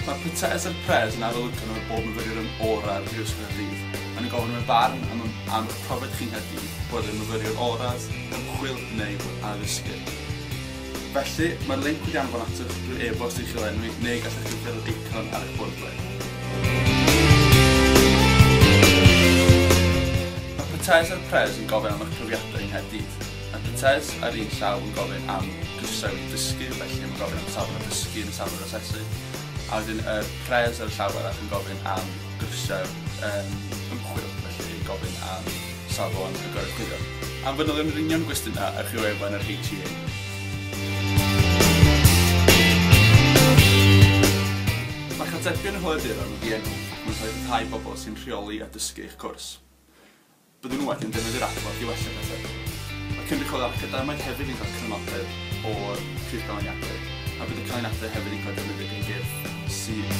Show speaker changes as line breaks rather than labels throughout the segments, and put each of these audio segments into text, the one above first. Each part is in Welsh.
Mae Prytseis a'r Pres yn arolygon ar bob myfyriwr yn orau ar Brifysgol Caerdydd. Maen nhw'n gofyn am y barn am am eich profiad chi'n Nghaerdydd, boed yn myfyriwr orau, ymchwil neu addysgu. Felly, mae'r linc wedi anfon atoch drwy e-bost i chi o enwi, neu gallech chi ffurfio'r eicon ar eich bordle. Mae Patays a'r Pres yn gofyn am eich profiadau yng Nghaerdydd. Mae Patays ar un llaw yn gofyn am grisiau wedi dysgu, felly mae'n gofyn am safon o dysgu yn y safon o asesu, a wedyn y Pres ar y llaw arall yn gofyn am grisiau um, ymchwil, felly yn gofyn am safon y goruchwylio. Am fanylion yr union gwestiynau, ewch i wefan yr HEA. Mae Catebion y Holiaduron yn ddienw ac mae'n cael ei rhyddhau i bobl sy'n rheoli a dysgu eich cwrs. Byddwn wedyn yn defnyddio'r adborth i wella pethau. Mae cynrychiolwyr academaidd hefyd yn cael cydnabydedd o'r Prif Ganlyniadwy a bydd y canlyniadau hefyd yn cael eu defnyddio gan gyrff sydd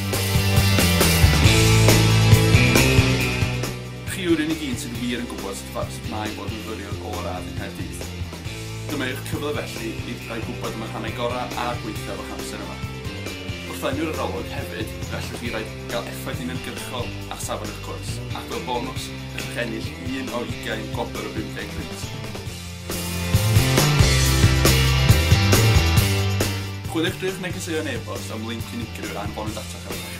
Chi yw'r unig un sydd wir yn gwybod sut fa- sut mae bod yn fyfyriwr ôl radd yng Nghaerdydd. Dyma yw'ch cyfle felly i roi gwybod am y rhannau gorau a gwaethaf o'ch amser yma. Wrth lenwi'r arolwg hefyd, fe allwch chi rai- gael effaith uniongyrchol ar safon eich cwrs, ac fel bonws, gallwch ennill un o 20 gwobr o 50 punt. Chwiliwch drwy'ch negeseuon e-bost am linc unigryw a anfonwyd atoch ar y rhannau.